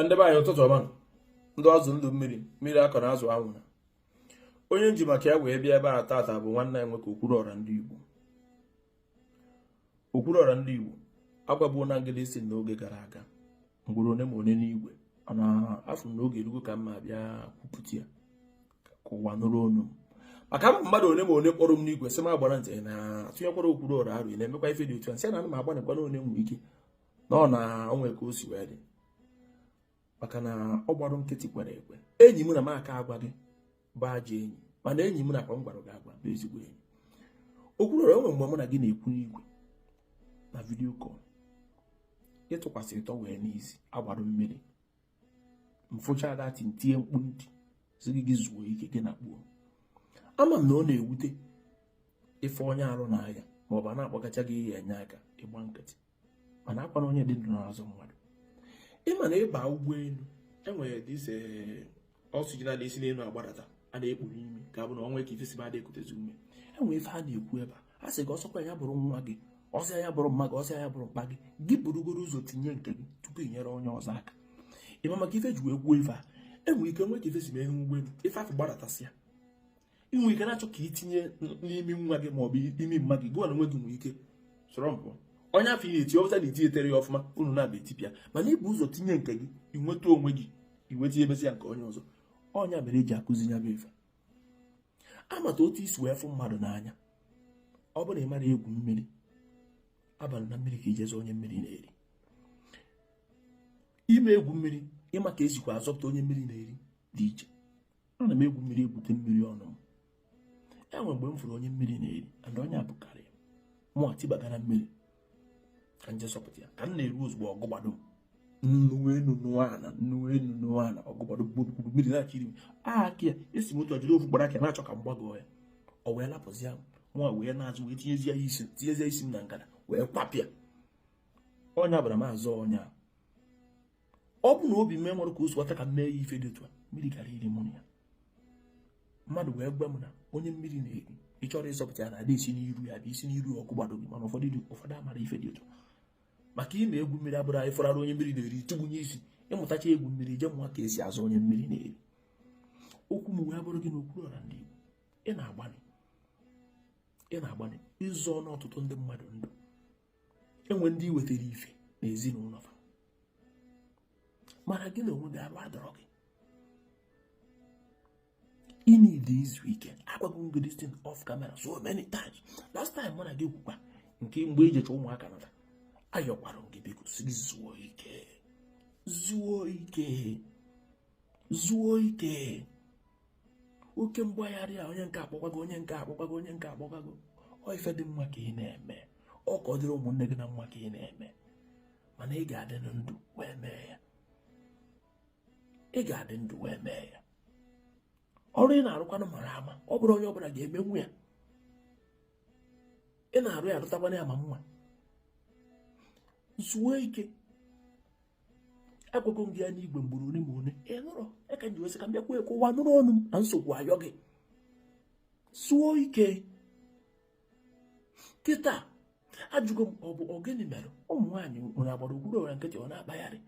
ndị be anyị ụtụtụ ọma ndụ azụ ndụ mmiri mmiri akọna azụ anwụna onye m ji maka ya wee bịa ebe a tata bụ nwanne ya nwoke Okwuluọra ndị Igbo Okwuluọra ndị Igbo agbabuo na ngịda isi n'oge gara aga ugboro one ma one n'igwe mana afụ m na oge erugo ka mụa bịa kwupụta ya ka ụwa nụrụ onu m maka na mmadụ one ma one kpọrọ m n'igwe sị m agbana nkịtị na atụnyekwara Okwuluọra arụ na-emekwa ife dị otu a sị na ana m agbanịkwa na o nwee ike na ọ na o nwe ka o si wee dị maka na ọ gbara nkịtị kwere ekwe enyi m na m aka agwa gị bụ ajọ enyi mana enyi m nakwa m gwara gị agwa bụ ezigbo enyi Okwuluọra e nwe mgbe mụ na gị na-ekwu n'igwe na video call ị tụkwasị towel n'isi a gbara mmiri m fụcha dati m tie mkpu m tie sị gị gị zuo ike gị na kpuo ama m na ọ na-ewute ịfụ onye arụ na-aya maọbụ a na-akpọgacha gị ihe enye aka ị gba nkịtị mana ọkwa na onye dị ndụ na-azọ mmadụ ị ma na ị ba ụgbọenu e nwere this oxygen na-esi n'enu agbadata a na-ekpu n'imi ka ọ bụ na o nwe ka ife si me ekutezi ume enwere ife a na-ekwu ebe a sị gị ọ sọkwa ya bụrụ nwa gị ọ sọ ya bụrụ mma gị ọ sọ ya bụrụ mpa gị gị burugodu ụzọ tinye nke gị tupu ị nyere onye ọzọ aka ị ma maka ife e ji wee kwuo ife a enwere ike nwee ka ife si mee ime ụgbọenu ife afụ gbadatasịa ị nwere ike na-achọ ka i tinye n'imi nwa gị maọbụ imi mma gị gị na onwe gị nwere ike slump onye afụ ị na-eti ọbụta na-eti etere ya ọfụma unu nabọ etipịa mana i bu ụzọ tinye nke gị i nweta onwe gị iweta emezi ya nke onye ọzọ ọ nya mere e ji akụzi ya bụ ife ị mata otu e si wee fụ mmadụ n'anya ọ bụrụ na ị mara egwu mmiri abana na mmiri ka i je zọ onye mmiri na-eri ịma egwu mmiri ịma ka esikwa azọpụta onye mmiri na-eri dị iche ana m egwu mmiri egwute mmiri ọnụ m e nwe mgbe m fụrụ onye mmiri na-eri and onye a bukarị mụ atụbaga na mmiri ka m je zọpụta ya ka m na-eru ozugbo ọ gụgbado nnu enu nụọ ala nnu enu nụọ ala ọ gụgbado gburugburu mmiri na-achọ iri aka ya esi m otu ọjọdụ ofu gbara aka na-achọ ka m gbagoo ya ọ wee lapụzie mụnwa wee naa azụ wee tinyezie ya isi tinyezie isi m na ngada wee kwapịa ọ nya bụ na m azọ onye a ọ bụ na obi m e nwere ka o si ọcha ka m mee ya ife dị otu a mmiri gara iri mụ na ya mmadụ wee gwa m na onye mmiri na-eri ị chọrọ ịzọpụta ya na ada esi n'iru ya bụ i si n'iru ọ gụgbado gị mana ụfọdụ dị ụfọdụ amarọ ife dị otu maka ịma egwu mmiri abụrọ na ị fụrụ onye mmiri na-eri tụgbunye isi ị mụtacha egwu mmiri je mụọ ka esi azọ onye mmiri na-eri okwu m wee bụrụ gị na Okwuluọra ndị Igbo ị na-agbanị ị na-agbanị ịzọ ọnụ ọtụtụ ndị mmadụ ndụ enwere ndị i wetara ife na ezinụlọ fa mana gị na onwe gị arụ adọrọ gị ị need izu ike agwago m gị this thing off camera so many times last time mụ na gị kwukwa nke mgbe i jecha ụmụaka nata ayọkwara m gị biko sị gị zuo ike zuo ike zuo ike oke mgbagharị a onye nke akpọkwago onye nke akpọkwago onye nke akpọkwago ọ ife dị mma ka ị na-eme ọ ka ọ dịrị ụmụnne gị na mma ka ị na-eme mana ị ga-adị ndụ wee mee ya ị ga-adị ndụ wee mee ya ọrụ ị na-arụkwanụ mara ama ọ bụrọ onye ọbụla ga-emenwu ya ị na-arụ ya arụtakwana ya ma mma zuo ike agwago m gị ya n'igwe mgboro ole ma ole ị nụrọ ya ka m ji wee sị ka m bịakwa ekwe ụwa nụrụ ọnụ m na nsogbu ayọ gị zuo ike kịta ajụgo m ọ bụ ọgịnị mere ụmụ nwaanyị nwere agbara okwuluọra nkịtị ọ na-akpagharị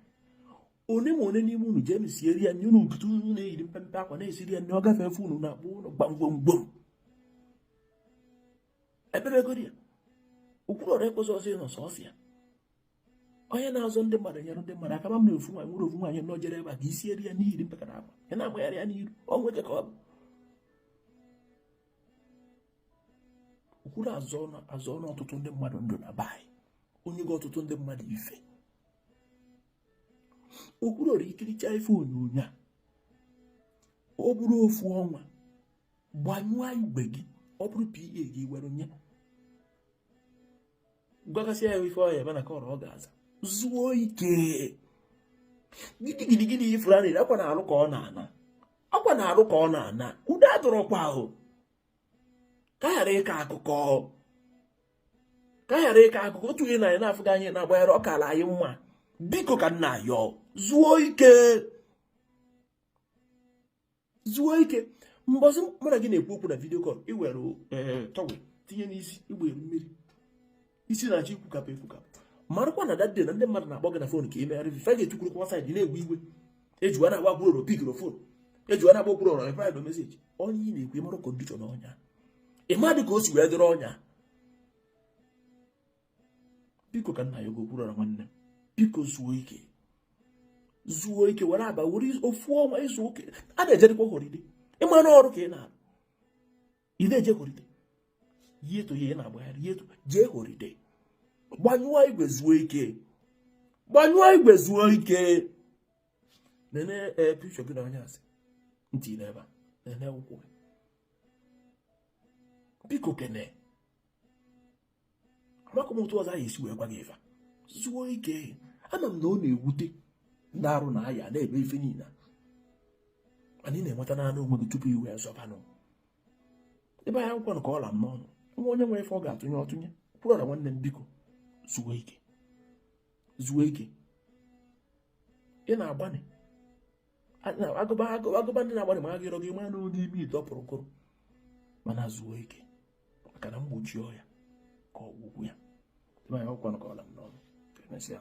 one ma one n'ime unu jee siere ya nri unu nkịta unu na-eyiri mpempe akwa na-esiri ya nri ọ gafee efe unu na-akpọ ụlọ gbamgbomgbom ebebegodi ya okwuluọra ekwesịrọ ịnọ sọsọ ya onye na-azọ ndị mmadụ nyere ndị mmadụ aka ma mere ofu nwaanyị nwere ofu nwaanyị nọ jere ebe a ka i siere ya nri yiri mpekere akwa ya na-amagharị ya n'iru o nwee ka ọ bụ okwuluọra azọọna ọtụtụ ndị mmadụ ndụ na be anyị o nyego ọtụtụ ndị mmadụ ife okwuluọra i kiricha ife onyonyo a ọ bụrụ ofu ọnwa gbanyụọ igwe gị ọ bụrụ PA gị were nye gwagasịa ya ife ọ ya-eme na call ọ ga-aza zuo ike gidigidigidi ị fụrụ anị akwa na arụ ka ọ na-ana akwa na arụ ka ọ na-ana udo adọrọkwa o ka ghara ịka akụkọ ka ghara ịka akụkọ otu ihe na anyị na-afụ gị anyị na-agbanyere ọ kala anyị mma biko ka m na-ayọ zuo ike zuo ike mbọsị mụ na gị na-ekwu okwu na vidio kọl i were eh, towel tinye n'isi igbe mmiri isi na-achọ ikwukapụ ekwukapụ marakwa na that day na ndị mmadụ na-akpọ gị na fon ka ị meere fa ife fa ga-etukwurukwa saịdị na-ewe iwe ejiwa na-agba okwuluọra pikirọ fon ejiwa na-agba okwuluọra replyrọ meseji onye ị na-ekwu ị mara kondishọn onye a ị madị ka o si wee dịrị onye a biko ka m na-ayọ gị okwuluọra nwanne m biko zuo ike zuo ike were aba were ofu ọnwa zuo ike a na-ejedịkwa holiday ị ma na ọrụ ka ị na-arụ ị na-eje holiday yet ị na-agbagharị yet jee holiday gbanyụọ igwe zuo ike gbanyụọ igwe zuo ike nene eh, pikchọ gị na onye asị ntị n'ebe a nene ụkwụ gị biko kene amakọ m otu ọzọ anyị esi wee gwa gị ife zuo ike ama m na ọ na-ewute ndị arụ na-aya na-eme ife niile mana ị na-enweta naanị onwe gị tupu i wee zọbanụ ibe anyị ekwukwanụ ka ọ la m n'ọnụ e nwee onye nwere ife ọ ga-atụnye ọ tụnye Okwuluọra nwanne m biko zuo ike zuo ike ị na-agbanị agụba agụba ndị na-agbalị ma agịrọ gị ma n'ụdị ime ite ọ pụrụ kụrụ mana zuo ike maka na mgbochi ọya ka ọgwụgwọ ya ibe anyị ekwukwanụ ka ọ la m n'ọnụ emesịa